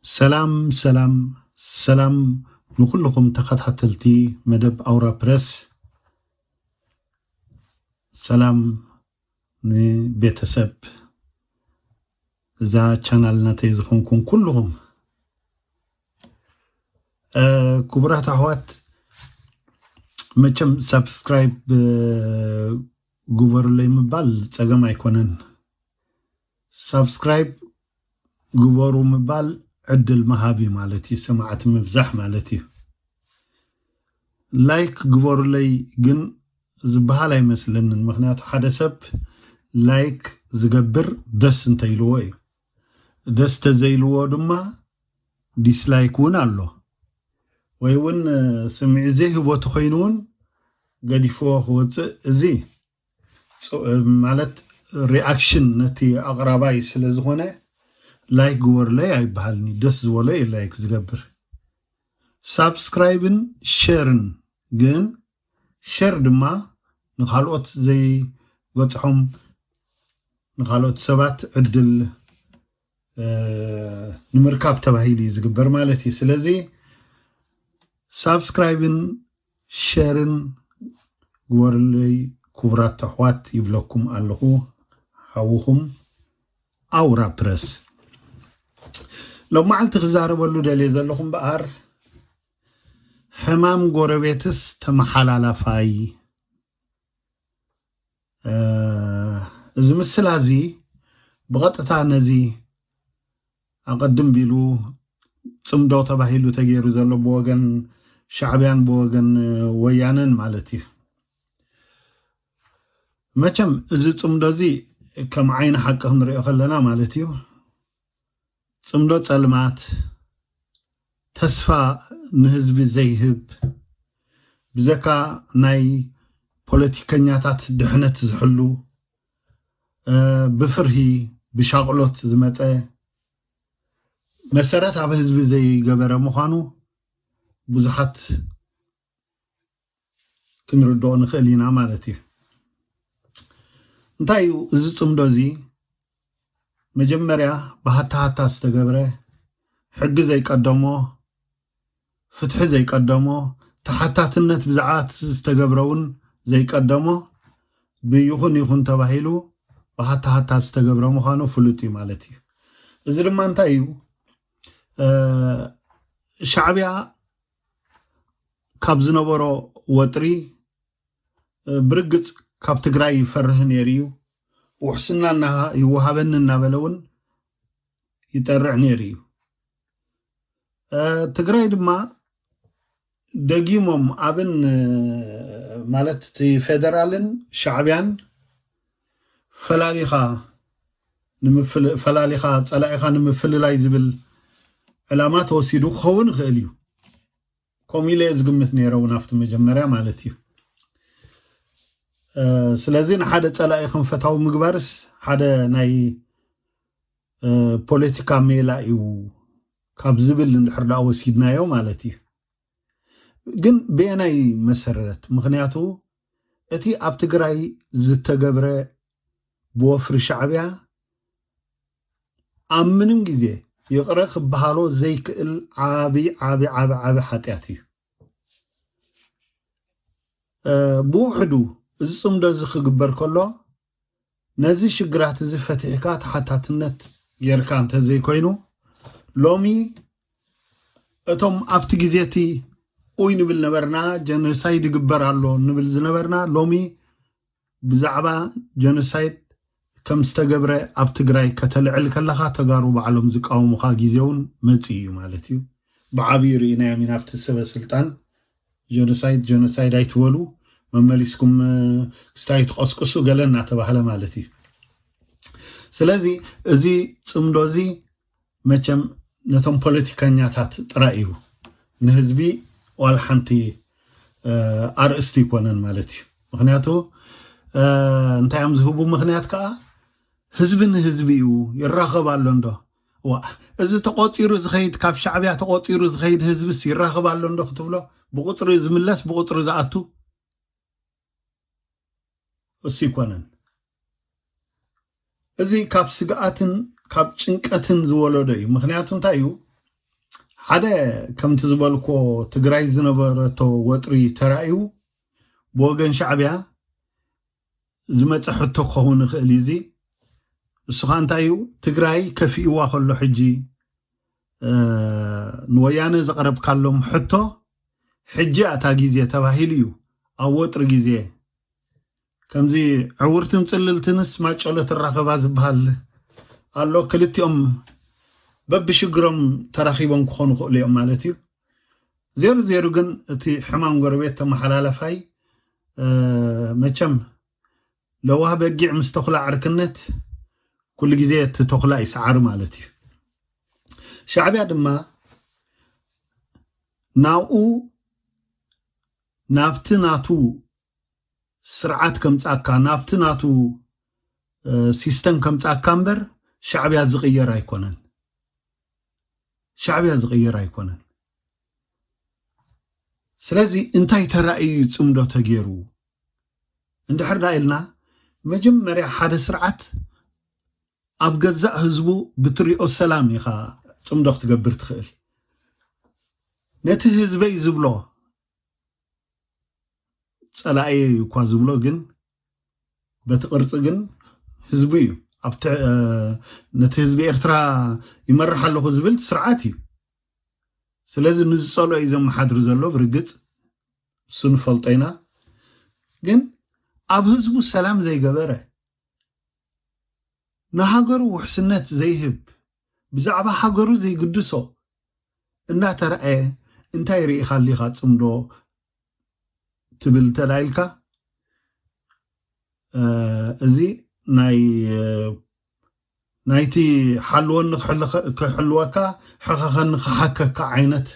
ሰላም ሰላም ሰላም ንኩልኹም ተኸታተልቲ መደብ ኣውራ ፕረስ ሰላም ንቤተሰብ እዛ ቻናል ናተይ ዝኾንኩም ኩልኹም ክቡራት ኣሕዋት መቸም ሳብስክራይብ ግበሩለይ ምባል ፀገም ኣይኮነን ሳብስክራይብ ግበሩ ምባል ዕድል ምሃብ እዩ ማለት እዩ ሰማዕቲ ምብዛሕ ማለት እዩ ላይክ ግበሩለይ ግን ዝበሃል ኣይመስለንን ምክንያቱ ሓደ ሰብ ላይክ ዝገብር ደስ እንተይልዎ እዩ ደስ ተዘይልዎ ድማ ዲስላይክ እውን ኣሎ ወይ እውን ስምዒት ዘይህቦ ተኮይኑ እውን ገዲፍዎ ክወፅእ እዚ ማለት ሪኣክሽን ነቲ ኣቕራባይ ስለ ዝኾነ ላይክ ግበሩለይ ኣይበሃልን እዩ ደስ ዝበሎ እዩ ላይክ ዝገብር ሳብስክራይብን ሸርን ግን ሸር ድማ ንካልኦት ዘይበፅሖም ንካልኦት ሰባት ዕድል ንምርካብ ተባሂሉ እዩ ዝግበር ማለት እዩ ስለዚ ሳብስክራይብን ሸርን ግበሩለይ ክቡራት ተሕዋት ይብለኩም ኣለኹ ሓውኹም ኣውራ ፕረስ ሎም መዓልቲ ክዛረበሉ ደልየ ዘለኹ እምበኣር ሕማም ጎረቤትስ ተመሓላላፋይ እዚ ምስላ እዚ ብቐጥታ ነዚ ኣቐድም ቢሉ ፅምዶ ተባሂሉ ተገይሩ ዘሎ ብወገን ሻዕብያን ብወገን ወያነን ማለት እዩ መቸም እዚ ፅምዶ እዚ ከም ዓይኒ ሓቂ ክንሪኦ ከለና ማለት እዩ ጽምዶ ጸልማት ተስፋ ንህዝቢ ዘይህብ ብዘካ ናይ ፖለቲከኛታት ድሕነት ዝሕሉ ብፍርሂ ብሻቕሎት ዝመፀ መሰረት ኣብ ህዝቢ ዘይገበረ ምዃኑ ብዙሓት ክንርድኦ ንኽእል ኢና ማለት እዩ እንታይ እዩ እዚ ፅምዶ እዚ መጀመርያ ብሃታሃታ ዝተገብረ ሕጊ ዘይቀደሞ ፍትሒ ዘይቀደሞ ተሓታትነት ብዛዕባ ዝተገብረ እውን ዘይቀደሞ ብይኹን ይኹን ተባሂሉ ብሃታሃታ ዝተገብረ ምዃኑ ፍሉጥ እዩ ማለት እዩ እዚ ድማ እንታይ እዩ ሻዕብያ ካብ ዝነበሮ ወጥሪ ብርግፅ ካብ ትግራይ ይፈርህ ነይሩ እዩ ውሕስና ይወሃበኒ እናበለ እውን ይጠርዕ ነይሩ እዩ ትግራይ ድማ ደጊሞም ኣብን ማለት እቲ ፌደራልን ሻዕቢያን ፈላሊኻ ንምፍል ፈላሊኻ ጸላኢኻ ንምፍልላይ ዝብል ዕላማ ተወሲዱ ክኸውን ይኽእል እዩ ከምኡ ኢለ ዝግምት ነይረ እውን ኣብቲ መጀመርያ ማለት እዩ ስለዚ ንሓደ ፀላኢ ከም ፈታዊ ምግባርስ ሓደ ናይ ፖለቲካ ሜላ እዩ ካብ ዝብል እንድሕር ዳ ወሲድናዮ ማለት እዩ ግን ብየናይ መሰረት ምክንያቱ እቲ ኣብ ትግራይ ዝተገብረ ብወፍሪ ሻዕቢያ ኣብ ምንም ግዜ ይቕረ ክበሃሎ ዘይክእል ዓቢ ዓቢ ዓቢ ዓቢ ሓጢኣት እዩ ብውሕዱ እዚ ፅምዶ እዚ ክግበር ከሎ ነዚ ሽግራት እዚ ፈቲሕካ ተሓታትነት ጌርካ እንተዘይኮይኑ ሎሚ እቶም ኣብቲ ግዜ እቲ ኡይ ንብል ነበርና ጀኖሳይድ ይግበር ኣሎ ንብል ዝነበርና ሎሚ ብዛዕባ ጀኖሳይድ ከም ዝተገብረ ኣብ ትግራይ ከተልዕል ከለካ ተጋሩ ባዕሎም ዝቃወሙካ ግዜ እውን መፂኡ እዩ ማለት እዩ ብዓብዩ ርኢናዮም ኢና ኣብቲ ሰበ ስልጣን ጀኖሳይድ ጀኖሳይድ ኣይትበሉ መመሊስኩም ክስታይ ትቐስቅሱ ገለ እናተባህለ ማለት እዩ ስለዚ እዚ ፅምዶ እዚ መቸም ነቶም ፖለቲከኛታት ጥራይ እዩ ንህዝቢ ዋላ ሓንቲ ኣርእስቲ ይኮነን ማለት እዩ ምክንያቱ እንታይ እዮም ዝህቡ ምክንያት ከዓ ህዝቢ ንህዝቢ እዩ ይራኸብ ኣሎ እንዶ ዋእ እዚ ተቆፂሩ ዝኸይድ ካብ ሻዕብያ ተቆፂሩ ዝኸይድ ህዝብስ ይራኸብ ኣሎ እንዶ ክትብሎ ብቁፅሪ ዝምለስ ብቁፅሪ ዝኣቱ እሱ ይኮነን እዚ ካብ ስግኣትን ካብ ጭንቀትን ዝወለዶ እዩ ምክንያቱ እንታይ እዩ ሓደ ከምቲ ዝበልኮ ትግራይ ዝነበረቶ ወጥሪ ተራእዩ ብወገን ሻዕብያ ዝመፀ ሕቶ ክኸውን ይኽእል እዩ እዚ ንስኻ እንታይ እዩ ትግራይ ከፊእዋ ከሎ ሕጂ ንወያነ ዘቕረብካሎም ሕቶ ሕጂ ኣታ ግዜ ተባሂሉ እዩ ኣብ ወጥሪ ግዜ ከምዚ ዕውርትን ፅልልትንስ ማጨሎ ትራኸባ ዝበሃል ኣሎ ክልቲኦም በብሽግሮም ተራኺቦም ክኾኑ ክእሉ እዮም ማለት እዩ ዜሩ ዜሩ ግን እቲ ሕማም ጎረቤት ተመሓላላፋይ መቸም ለዋህ በጊዕ ምስ ተኹላ ዕርክነት ኩሉ ግዜ እቲ ተኹላ ይሰዓር ማለት እዩ ሻዕብያ ድማ ናብኡ ናብቲ ናቱ ስርዓት ከምፃካ ናብቲ ናቱ ሲስተም ከምፃካ እምበር ሻዕብያ ዝቕየር ኣይኮነን ሻዕብያ ዝቕየር ኣይኮነን። ስለዚ እንታይ ተራእዩ ፅምዶ ተገይሩ እንድሕርዳ ኢልና መጀመርያ ሓደ ስርዓት ኣብ ገዛእ ህዝቡ ብትሪኦ ሰላም ኢኻ ፅምዶ ክትገብር ትኽእል ነቲ ህዝበይ ዝብሎ ፀላእየ እኳ ዝብሎ ግን በቲ ቅርፂ ግን ህዝቢ እዩ ነቲ ህዝቢ ኤርትራ ይመርሕ ኣለኹ ዝብል ስርዓት እዩ ስለዚ ንዝፀልኦ እዩ ዘመሓድሪ ዘሎ ብርግፅ እሱ ንፈልጦ ኢና ግን ኣብ ህዝቡ ሰላም ዘይገበረ ንሃገሩ ውሕስነት ዘይህብ ብዛዕባ ሃገሩ ዘይግድሶ እናተረኣየ እንታይ ርኢኻ ሊኻ ፅምዶ ትብል እንተዳ ኢልካ እዚ ናይ ናይቲ ሓልወኒ ክሕልወካ ሕኸኸኒ ክሓከካ ዓይነት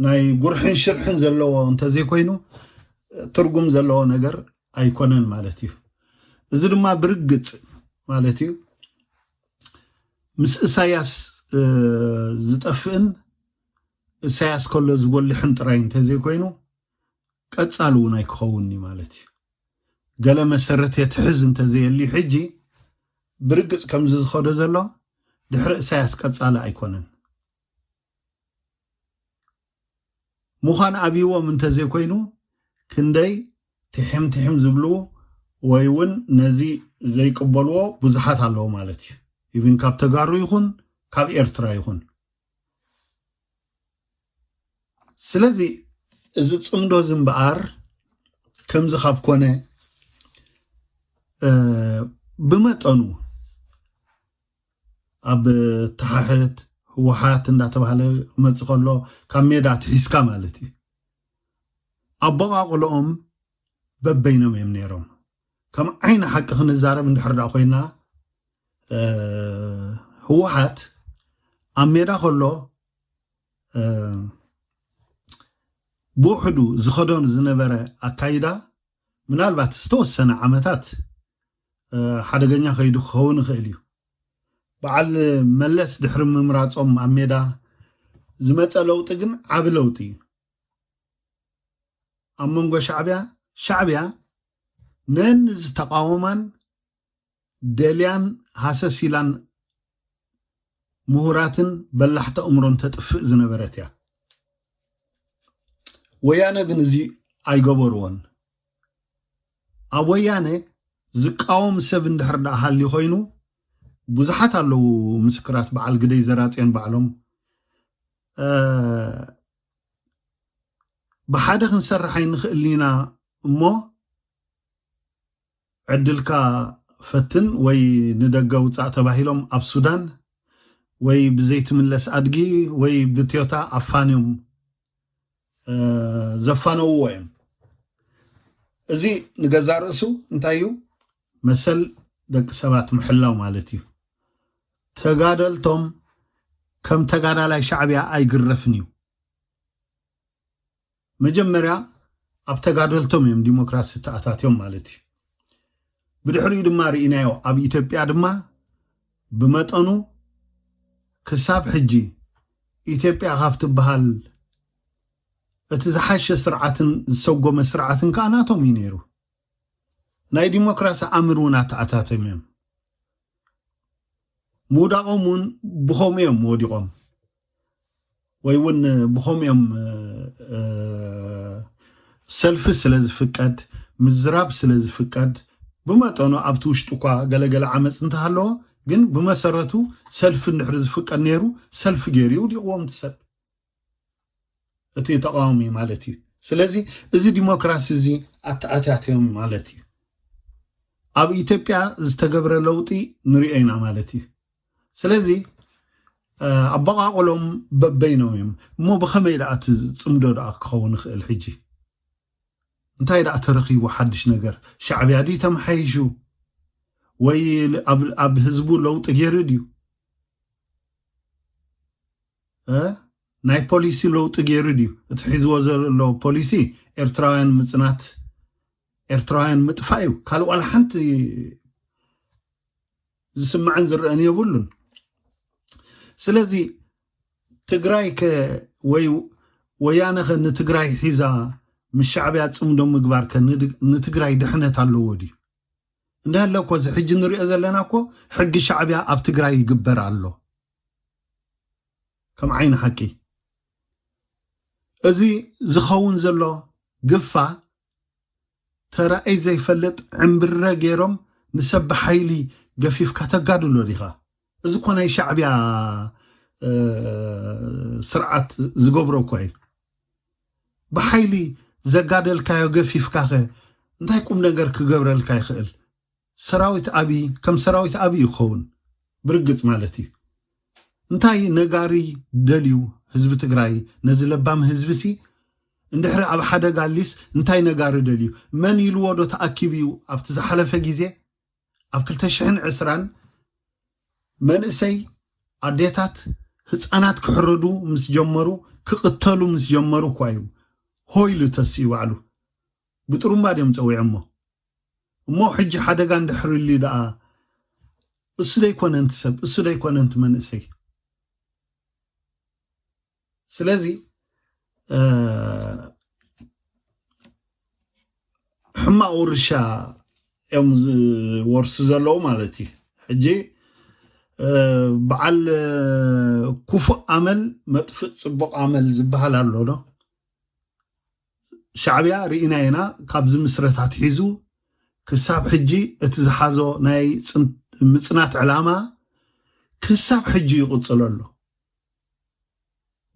ናይ ጉርሕን ሽርሕን ዘለዎ እንተዘይኮይኑ ትርጉም ዘለዎ ነገር ኣይኮነን ማለት እዩ እዚ ድማ ብርግፅ ማለት እዩ ምስ እሳያስ ዝጠፍእን እሳያስ ከሎ ዝጎልሕን ጥራይ እንተዘይኮይኑ ቀጻሊ እውን ኣይክኸውን እዩ ማለት እዩ ገለ መሰረት የትሕዝ እንተዘየልዩ ሕጂ ብርግጽ ከምዚ ዝኸዶ ዘሎ ድሕሪ እሳያስ ቀጻሊ ኣይኮነን ምዃን ኣብይዎም እንተዘይኮይኑ ክንደይ ትሕም ትሕም ዝብሉ ወይ እውን ነዚ ዘይቅበልዎ ብዙሓት ኣለዎ ማለት እዩ ኢብን ካብ ተጋሩ ይኹን ካብ ኤርትራ ይኹን ስለዚ እዚ ፅምዶ እዚ እምበኣር ከምዚ ካብ ኮነ ብመጠኑ ኣብ ተሓሕት ህወሓት እንዳተባሃለ ክመፅእ ከሎ ካብ ሜዳ ትሒዝካ ማለት እዩ ኣቦቃቅሎኦም በበይኖም እዮም ነይሮም ከም ዓይኒ ሓቂ ክንዛረብ እንድሕር ዳ ኮይና ህወሓት ኣብ ሜዳ ከሎ ብውሕዱ ዝኸዶን ዝነበረ ኣካይዳ ምናልባት ዝተወሰነ ዓመታት ሓደገኛ ከይዱ ክኸውን ይኽእል እዩ በዓል መለስ ድሕሪ ምምራፆም ኣብ ሜዳ ዝመፀ ለውጢ ግን ዓብ ለውጢ እዩ ኣብ መንጎ ሻዕቢያ ሻዕቢያ ነን ዝተቃወማን ደልያን ሃሰስ ኢላን ምሁራትን በላሕቲ ኣእምሮን ተጥፍእ ዝነበረት እያ ወያነ ግን እዚ ኣይገበርዎን ኣብ ወያነ ዝቃወም ሰብ እንድሕር ደኣ ሃሊ ኮይኑ ብዙሓት ኣለዉ ምስክራት በዓል ግደይ ዘራፅዮን ባዕሎም ብሓደ ክንሰርሕ ኣይንኽእል ኢና እሞ ዕድልካ ፈትን ወይ ንደገ ውፃእ ተባሂሎም ኣብ ሱዳን ወይ ብዘይትምለስ ኣድጊ ወይ ብትዮታ ኣፋንዮም ዘፋነውዎ እዮም እዚ ንገዛ ርእሱ እንታይ እዩ መሰል ደቂ ሰባት ምሕላው ማለት እዩ። ተጋደልቶም ከም ተጋዳላይ ሻዕቢያ ኣይግረፍን እዩ። መጀመርያ ኣብ ተጋደልቶም እዮም ዲሞክራሲ ተኣታትዮም ማለት እዩ። ብድሕሪኡ ድማ ርኢናዮ ኣብ ኢትዮጵያ ድማ ብመጠኑ ክሳብ ሕጂ ኢትዮጵያ ካብ ትበሃል እቲ ዝሓሸ ስርዓትን ዝሰጎመ ስርዓትን ከዓ ናቶም እዩ ነይሩ። ናይ ዲሞክራሲ ኣምር እውን ኣተኣታቶም እዮም ምውዳቆም እውን ብከምኡ እዮም ወዲቆም ወይ እውን ብከምኡ እዮም ሰልፊ ስለ ዝፍቀድ ምዝራብ ስለ ዝፍቀድ ብመጠኑ ኣብቲ ውሽጢ እኳ ገለገለ ዓመፅ እንተሃለዎ ግን ብመሰረቱ ሰልፊ እንድሕሪ ዝፍቀድ ነይሩ ሰልፊ ገይሩ ይውዲቕዎም ትሰብ እቲ ተቃዋሚ ማለት እዩ ስለዚ እዚ ዲሞክራሲ እዚ ኣተኣታትዮም ማለት እዩ ኣብ ኢትዮጵያ ዝተገብረ ለውጢ ንሪኦ ኢና ማለት እዩ ስለዚ ኣበቃቅሎም በበይኖም እዮም እሞ ብከመይ ደኣ እቲ ፅምዶ ደኣ ክኸውን ይኽእል ሕጂ እንታይ ደኣ ተረኪቡ ሓድሽ ነገር ሻዕብያ ድዩ ተመሓይሹ ወይ ኣብ ህዝቡ ለውጢ ገይሩ ድዩ ናይ ፖሊሲ ለውጢ ገይሩ ድዩ እቲ ሒዝዎ ዘሎ ፖሊሲ ኤርትራውያን ምፅናት ኤርትራውያን ምጥፋእ እዩ ካልእ ዋላ ሓንቲ ዝስምዐን ዝረአን የብሉን ስለዚ ትግራይ ከ ወይ ወያነ ከ ንትግራይ ሒዛ ምስ ሻዕብያ ፅምዶ ምግባር ከ ንትግራይ ድሕነት ኣለዎ ድዩ እንዳሃለ እኮ እዚ ሕጂ ንሪኦ ዘለና እኮ ሕጊ ሻዕብያ ኣብ ትግራይ ይግበር ኣሎ ከም ዓይኒ ሓቂ እዚ ዝኸውን ዘሎ ግፋ ተራእይ ዘይፈልጥ ዕምብረ ገይሮም ንሰብ ብሓይሊ ገፊፍካ ተጋድሎ ዲኻ እዚ እኮ ናይ ሻዕብያ ስርዓት ዝገብሮ እኳ እዩ ብሓይሊ ዘጋደልካዮ ገፊፍካ ኸ እንታይ ቁም ነገር ክገብረልካ ይኽእል ሰራዊት ኣብይ ከም ሰራዊት ኣብይ እዩ ክኸውን ብርግፅ ማለት እዩ። እንታይ ነጋሪ ደልዩ ህዝቢ ትግራይ ነዚ ለባም ህዝቢ ሲ እንድሕሪ ኣብ ሓደጋ ሊስ እንታይ ነጋሪ ደልዩ መን ኢልዎ ዶ ተኣኪቡ እዩ ኣብቲ ዝሓለፈ ግዜ ኣብ 220 መንእሰይ ኣዴታት ህፃናት ክሕረዱ ምስ ጀመሩ ክቕተሉ ምስ ጀመሩ እኳ እዩ ሆይሉ ተስኡ ባዕሉ ብጥሩምባ ድዮም ጸዊዖሞ እሞ ሕጂ ሓደጋ እንድሕር እልዩ ደኣ እሱ ዶ ኣይኮነን እቲ ሰብ እሱ ዶ ኣይኮነን እቲ መንእሰይ ስለዚ ሕማቅ ውርሻ እዮም ዝወርሱ ዘለዉ ማለት እዩ ሕጂ በዓል ኩፉእ ኣመል መጥፍእ ፅቡቅ ኣመል ዝበሃል ኣሎ ዶ ሻዕብያ ርኢና ኢና ካብ ዝምስረት ኣትሒዙ ክሳብ ሕጂ እቲ ዝሓዞ ናይ ምፅናት ዕላማ ክሳብ ሕጂ ይቕፅሎ ኣሎ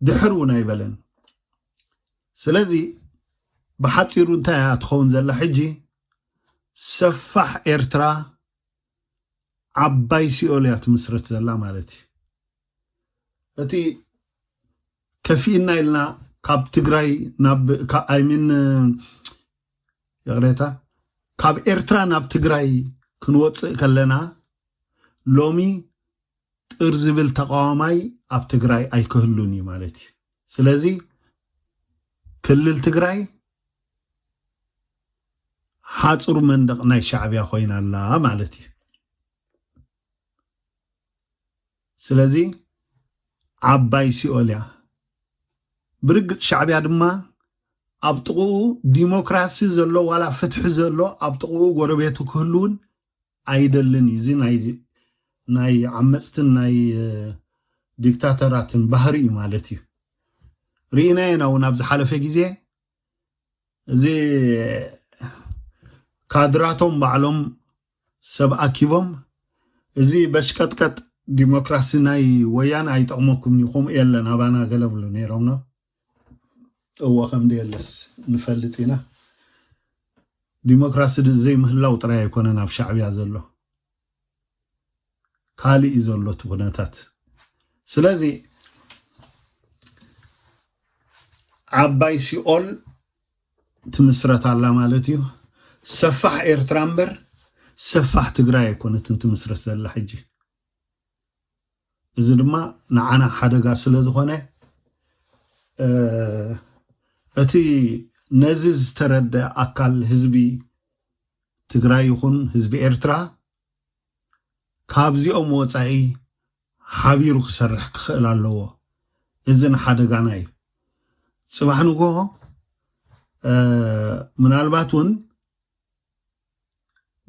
ድሕር እውን ኣይበለን ስለዚ ብሓፂሩ እንታይ እያ ትኸውን ዘላ ሕጂ ሰፋሕ ኤርትራ ዓባይ ሲኦል እያ ትምስርት ዘላ ማለት እዩ እቲ ከፊእና ኢልና ካብ ትግራይ ኣይሚን ይቕሬታ ካብ ኤርትራ ናብ ትግራይ ክንወፅእ ከለና ሎሚ ጥር ዝብል ተቃዋማይ ኣብ ትግራይ ኣይክህሉን እዩ ማለት እዩ ስለዚ ክልል ትግራይ ሓፅሩ መንደቕ ናይ ሻዕብያ ኮይና ኣላ ማለት እዩ ስለዚ ዓባይ ሲኦል እያ ብርግፅ ሻዕብያ ድማ ኣብ ጥቕኡ ዲሞክራሲ ዘሎ ዋላ ፍትሒ ዘሎ ኣብ ጥቕኡ ጎረቤቱ ክህልውን ኣይደልን እዩ እዚ ናይ ናይ ዓመፅትን ናይ ዲክታተራትን ባህሪ እዩ ማለት እዩ ርኢናዮ ኢና እውን ኣብ ዝሓለፈ ግዜ እዚ ካድራቶም ባዕሎም ሰብ ኣኪቦም እዚ በሽቀጥቀጥ ዲሞክራሲ ናይ ወያነ ኣይጠቕመኩም እዩ ከምኡ የለን ኣባና ገለ ብሉ ነይሮም እወ ከምደየለስ ንፈልጥ ኢና ዲሞክራሲ ዘይምህላው ጥራይ ኣይኮነን ኣብ ሻዕብያ ዘሎ ካልእ እዩ ዘሎ እቲ ኩነታት ስለዚ ዓባይ ሲኦል ትምስረት ኣላ ማለት እዩ ሰፋሕ ኤርትራ እምበር ሰፋሕ ትግራይ ኣይኮነትን ትምስረት ዘላ ሕጂ እዚ ድማ ንዓና ሓደጋ ስለ ዝኾነ እቲ ነዚ ዝተረደ ኣካል ህዝቢ ትግራይ ይኹን ህዝቢ ኤርትራ ካብዚኦም ወፃኢ ሓቢሩ ክሰርሕ ክኽእል ኣለዎ እዚ ንሓደጋና እዩ ፅባሕ ንግሆ ምናልባት እውን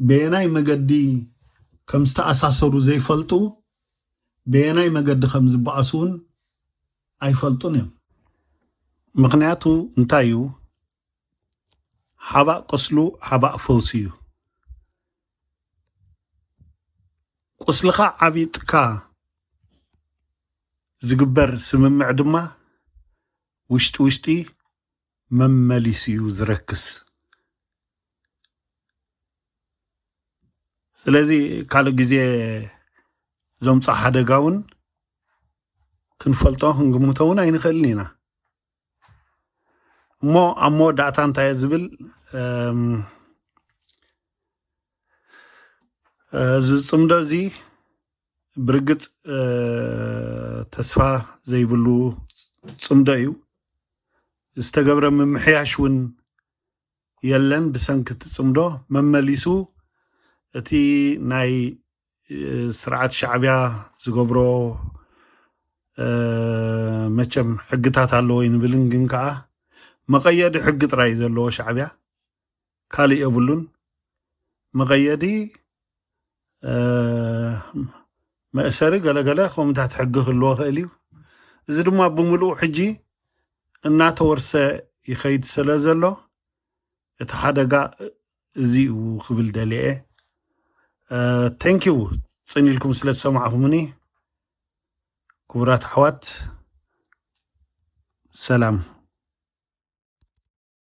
በየናይ መገዲ ከም ዝተኣሳሰሩ ዘይፈልጡ በየናይ መገዲ ከም ዝበኣሱ እውን ኣይፈልጡን እዮም። ምክንያቱ እንታይ እዩ? ሓባእ ቁስሉ ሓባእ ፈውሲ እዩ። ቁስልኻ ዓቢጥካ ዝግበር ስምምዕ ድማ ውሽጢ ውሽጢ መመሊሱ እዩ ዝረክስ። ስለዚ ካልእ ግዜ ዘምፆ ሓደጋ እውን ክንፈልጦ ክንግምቶ እውን ኣይንኽእልን ኢና እሞ ኣብ መወዳእታ እንታይ ዝብል እዚ ፅምዶ እዚ ብርግፅ ተስፋ ዘይብሉ ፅምዶ እዩ ዝተገብረ ምምሕያሽ እውን የለን ብሰንኪ እቲ ፅምዶ መመሊሱ እቲ ናይ ስርዓት ሻዕብያ ዝገብሮ መቸም ሕግታት ኣለዎ ይንብልን ግን ከዓ መቐየዲ ሕጊ ጥራይ ዘለዎ ሻዕብያ ካልእ የብሉን መቐየዲ መእሰሪ ገለገለ ከምታት ሕጊ ክህልዎ ክእል እዩ እዚ ድማ ብምሉእ ሕጂ እናተወርሰ ይኸይድ ስለ ዘሎ እቲ ሓደጋ እዚ እዩ ክብል ደልየ ተንኪው ፅን ኢልኩም ስለ ዝሰማዕኹምኒ ክቡራት ኣሕዋት ሰላም